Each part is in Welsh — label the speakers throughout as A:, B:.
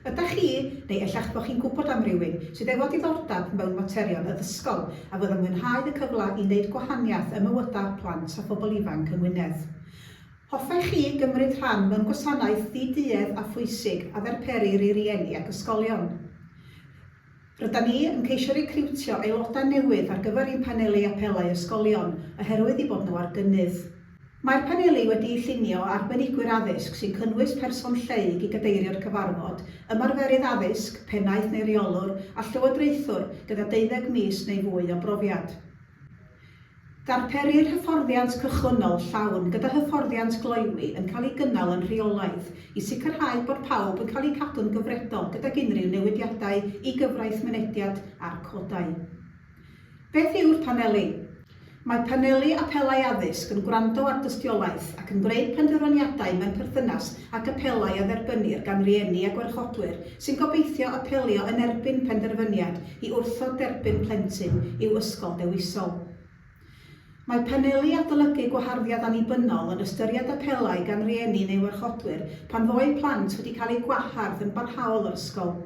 A: Ydach chi, neu ella eich bod chi'n gwybod am rywun, sydd efo diddordab mewn materion addysgol a fydd yn mwynhau y cyfle i wneud gwahaniaeth ym mywydau plant a phobl ifanc yng Ngwynedd? Hoffech chi gymryd rhan mewn gwasanaeth ddi-duedd a phwysig a ddarperir i rieni ac ysgolion? Rydan ni yn ceisio recriwtio aelodau newydd ar gyfer ein paneli apelau ysgolion oherwydd eu bod nhw ar gynnydd. Mae'r paneli wedi'u llunio o arbenigwyr addysg sy'n cynnwys person lleyg i gadeirio'r cyfarfod, ymarferydd addysg, pennaeth neu reolwr, a llywodraethwr gyda deuddeg mis neu fwy o brofiad. Darperir hyfforddiant cychwynnol llawn gyda hyfforddiant gloywi yn cael ei gynnal yn rheolaidd i sicrhau bod pawb yn cael eu cadw'n gyfredol gydag unrhyw newidiadau i gyfraith mynediad a'r codau. Beth yw'r Paneli? Mae Paneli Apelau Addysg yn gwrando ar dystiolaeth ac yn gwneud penderfyniadau mewn perthynas ag apelau a dderbynnir gan rieni a gwarchodwyr sy'n gobeithio apelio yn erbyn penderfyniad i wrthod derbyn plentyn i'w ysgol dewisol. Mae Paneli Adolygu Gwaharddiad Annibynnol yn ystyried apelau gan rieni neu warchodwyr pan fo eu plant wedi cael eu gwahardd yn barhaol o'r ysgol.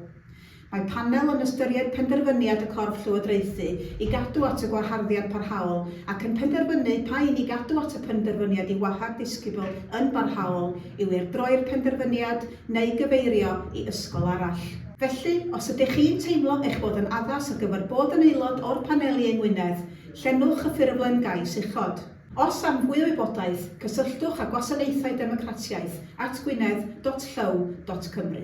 A: Mae Panel yn ystyried penderfyniad y corff llywodraethu i gadw at y gwaharddiad parhaol ac yn penderfynu pa un i gadw at y penderfyniad i wahardd disgybl yn barhaol yw i'r droi'r penderfyniad neu gyfeirio i ysgol arall. Felly, os ydych chi'n teimlo eich bod yn addas ar gyfer bod yn aelod o'r paneli yng Ngwynedd, llenwch y ffurflen gais uchod. Os am fwy o wybodaeth, cysylltwch â Gwasanaethau Democratiaeth at gwynedd.llyw.cymru.